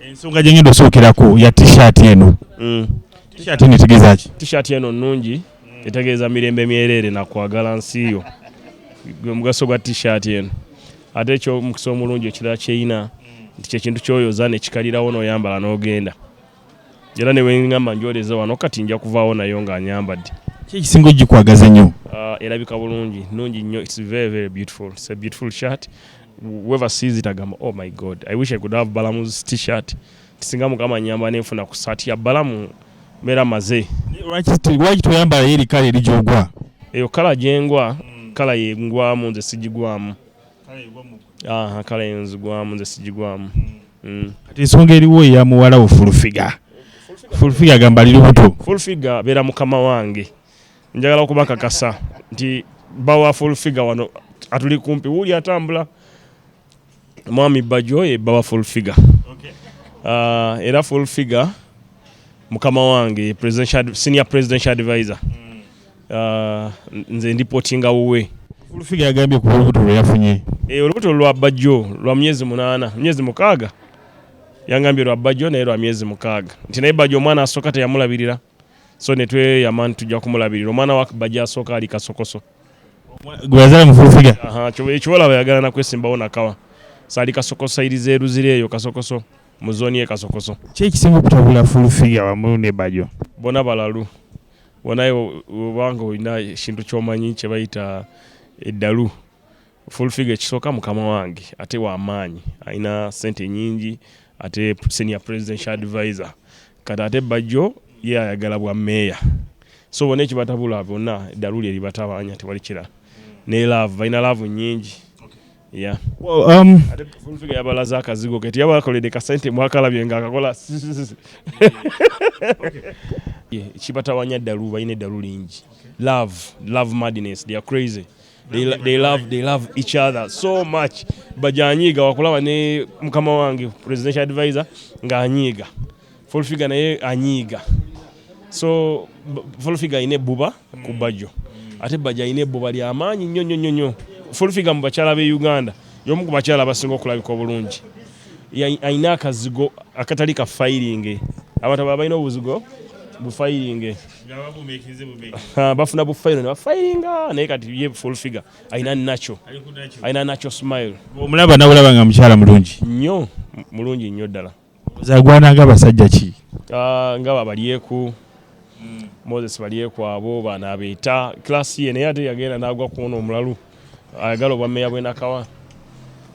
ensonga gye ngenda osookeraku ya t-shirt eno mm. t-shirt eno etegeeza ki t-shirt eno nnungi etegeeza mirembe myereere na kwagala nsi yo gwe mugaso gwa t-shirt eno ate ekyo mukisa omulungi ekirala kyeyina nti kyekintu kyoyoza nekikalirawo noyambala nogenda era newengamba njoleze wano kati nja kuvaawo nayo nga anyambadde kyekisinga ogikwagaza nnyo ah, erabika bulungi nungi nnyo its very very beautiful its a beautiful shirt Whoever sees it agamba oh my God I wish I could have Balamu's t-shirt nti singa mukama nyamba nenfuna ku saati ya Balamu mbeera maze. Lwaki toyambala yo eri kala eri gyogwa? Eyo kala gyengwa kala yengwamu nze sigigwamu. Aha kala yenzigwamu nze sigigwamu. Mm. Kati ensonga eriwo eya muwala wo fulufiga. Fulufiga agamba ali lubuto. Fulufiga beera mukama wange. njagala okubakakasa nti bawa full figure wano atuli kumpi wuli atambula mwami bajo ye bawa full figure okay. uh, era full figure mukama wange presidential, senior presidential advisor mm. uh, nze ndi potinga wuwe full figure yagambye ku olubuto lwe yafunye e, olubuto lwa bajo lwa myezi munana myezi mukaaga yangambye lwa bajo naye lwa myezi mukaaga nti naye bajo omwana asooka teyamulabirira so netweyama nti tujja kumulabirira omwana wa bajja asooka ali kasokoso gweyazala mufulufiga ekiwola bayagala nakwesimbawo nakawa saali kasokoso iriza eruzira eyo kasokoso mu zooni ye kasokoso kyekisinga okutabula fulufiga wamu ne bajo bona balalu bonaye obanga olina ekintu kyomanyi kyebayita eddalu Full figure ekisooka mukama wange ate wamaanyi alina sente nyingi ate senior presidential advisor kati ate bajjo ye ayagala bwa meeya so bona ekibatabula bona eddalu lye libatabanya tewali kirala ne laavu balina laavu nyingi ya um, ate full figure yabalaze akazigo ke teyabalakoledde kasente mwakalabye nga akakola ekibatawanya eddalu balina eddalu lingi love love madness they are crazy they, they love they love each other so much bajanyiiga wakulaba ne mukama wange presidential advisor nga anyiiga full figure naye anyiiga so full figure ine buba ku bajo ate baja ine buba lya maanyi nnyo nnyo nnyo full figure mu bakyala be Uganda yomu ku bakyala abasinga okulabika obulungi alina akazigo akatali ka fayiringe abantu abo abalina obuzigo bufayiringe bafuna bufayiro nebafayiringa naye kati ye full figure alina naco alina naco smile omulaba nawulaba nga mukyala mulungi nnyo mulungi nnyo ddala zagwana nga abasajja ki ah, nga babalyeku hmm. moses balyeku abo banabeeta klasi ye naye ate yagenda nagwa kuona omulalu ayagala obwa meya bwenakawa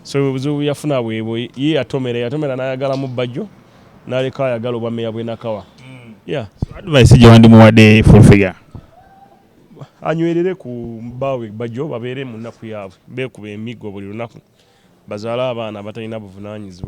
so obuzibu yafuna bwebwo ye yatomera yatomera nayagala mu bajjo naleka ayagala obwa meya bwenakawa mm. yeah. so advice gyewandimuwadde full figure anywerere ku baawe bajjo babeere mu nnaku yaabwe beekuba emiggo buli lunaku bazaale abaana abatalina buvunanyizibwa